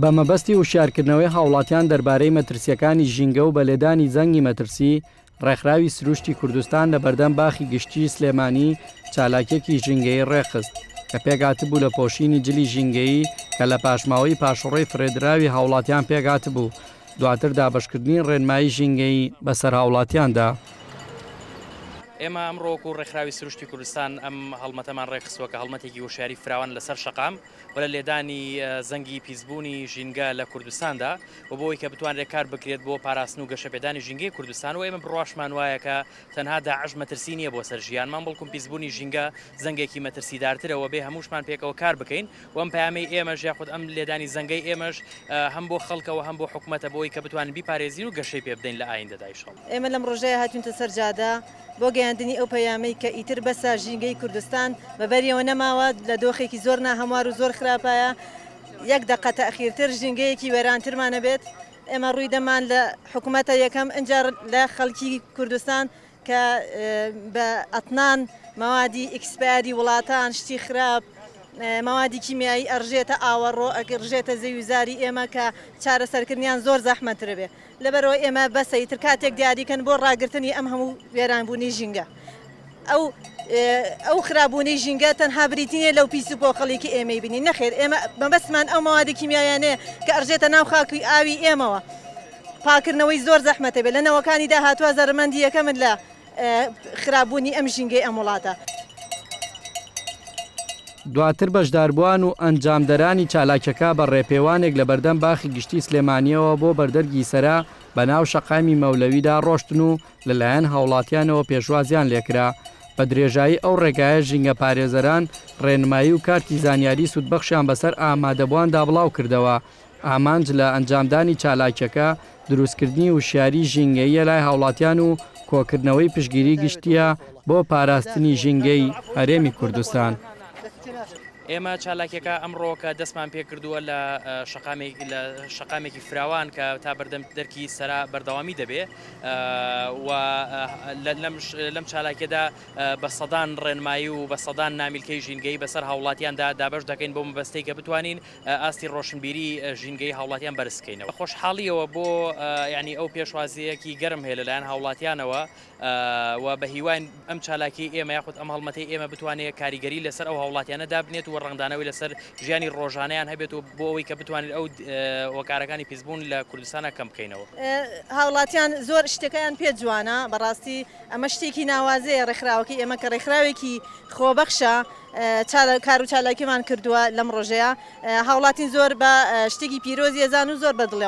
بە مەبەستی وشیارکردنەوەی هاوڵاتیان دەربارەی مەترسیەکانی ژینگە و بە لێدانی زەنگی مەترسی، ڕێکخراوی سروشتی کوردستان لە بەردەم باخی گشتیی سلێمانی چالاکیەکی ژینگەیی ڕێکخست کە پێکهاتبوو لە پۆشینی جلی ژینگەیی کە لە پاشماوەی پاشەڕۆی فرێدراوی هاوڵاتیان پێکهاتبوو دواتر دابەشکردنی ڕێنمایی ژینگەیی بەسەر هاوڵاتیاندا ئێمە ئەمڕۆ وەکوو ڕێکخراوی سروشتی کوردستان ئەم هەڵمەتەمان ڕێکخستووە کە هەڵمەتێکی هۆشیاری فراوان لەسەر شەقام و لە لێدانی زەنگی پیسبوونی ژینگە لە کوردستاندا و بۆی کە بتوانرێت کار بکرێت بۆ پاراستن و گەشەپێدانی ژینگەی کوردستان و ئێمە بڕواشمان وایە کە تەنها داعش مەترسی نییە بۆ سەر ژیانمان بەڵکوم پیسبوونی ژینگە زەنگێکی مەترسیدارترە و بێ هەمووشمان پێکەوە کار بکەین و ئەم پەیامەی ئێمەش یاخود ئەم لێدانی زەنگەی ئێمەش هەم بۆ خەڵکە و هەم بۆ حکومەتە بۆ ئەوەی کە بتوانین بیپارێزین و گەشەی پێ بدەین لە ئایندەدا ئیشەڵا. ئێمە لەم ڕۆژەیا هاتوینتە سەر جادە بۆ گەیاندنی ئەو پەیامەی کە ئیتر بەسە ژینگەی کوردستان بە بەریەوە نەماوە لە دۆخێکی زۆر ناهەموار و زۆر خراپایە یەک دەقە تاخیرتر ژینگەیەکی وێرانترمان ئەبێت ئێمە ڕووی دەمان لە حکومەتە یەکەم ئینجا لە خەڵکی کوردستان کە بە ئەتنان، مەوادی ئیکسپایەری وڵاتان، شتی خراپ، مەوادی کیمیایی ئەڕژێتە ئاوەڕۆ، ئەڕژێتە زەوی و زاری ئێمە کە چارەسەرکردنیان زۆر زەحمەتتر بێ. لەبەرئەوە ئێمە بەسە ئیتر کاتێک دیاری کەن بۆ ڕاگرتنی ئەم هەموو وێرانبوونەی ژینگە. ئەو ئەو خراپبوونەی ژینگە تەنها بریتی نیە لەو پیس و پۆخڵی کە ئێمەی بینین، نەخێر ئێمە مەبەستمان ئەو مەوادە کیمیایانەیە کە ئەڕژێتە ناو خاک و ئاوی ئێمەوە. پاکردنەوەی زۆر زەحمەتە بێ لە نەوەکانی داهاتوە زەرمەندی یەکەمن لە خراپ بونی ئەم ژینگەی ئەم وڵاتە. دواتر بەشداربوان و ئەنجامدەرانی چالاکیەکە بە ڕێپێوانێک لە بەردەم باخی گشتی سلێمانیەوە بۆ بەردەرگی سەرا بە ناو شەقامی مەولەویدا ڕۆشتن و لە لایەن هاوڵاتیانەوە پێشوازیان لێکرا بە درێژایی ئەو ڕێگایە ژینگە پارێزەران ڕێنمایی و کارتی زانیاری سودبەخشیان بەسەر ئامادەبواندا بڵاوکردەوە ئامانج لە ئەنجامدانی چالاکیەکە دروستکردنی وشیاریی ژینگەییە لای هاوڵاتیان و کۆکردنەوەی پشتگیری گشتییە بۆ پاراستنی ژینگەی هەرێمی کوردستان. ئێمە چالاکیەکە ئەمڕۆ کە دەستمان پێکردووە لە شەقامێکی فراوان کە تا بەردەم دەرکی سەرا بەردەوامی دەبێ و لەم چالاکیەدا بە سەدان ڕێنمایی و بە سەدان نامیلکەی ژینگەیی بەسەر هاوڵاتیاندا دابەش دەکەین بۆ مەبەستەی کە بتوانین ئاستی ڕۆشنبیری ژینگەیی هاوڵاتیان بەرز بکەینەوە. بەخۆشحاڵییەوە بۆ یانی ئەو پێشوازییەکی گەرم هەیە لەلایەن هاوڵاتیانەوە و بەهیواین ئەم چالاکیی ئێمە یاخود ئەم هەڵمەتەی ئێمە بتوانێت کاریگەری لەسەر ئەو هاوڵاتیانە دابنێت و ڕەنگدانەوەی لەسەر ژیانی ڕۆژانەیان هەبێت و بۆ ئەوەی کە بتوانین ئەو هۆکارەکانی پیسبوون لە کوردستانا کەم بکەینەوە. هاوڵاتیان زۆر شتەکەیان پێ جوانە، بەڕاستی ئەمە شتێکی ناوازەیە ڕێکخراوەکەی ئێمە کە ڕێکخراوێکی خۆبەخشە کارو چالاکیمان کردووە لەم ڕۆژەیا هاوڵاتین زۆر بە شتێکی پیرۆزی ئەزان و زۆر بە دڵێ.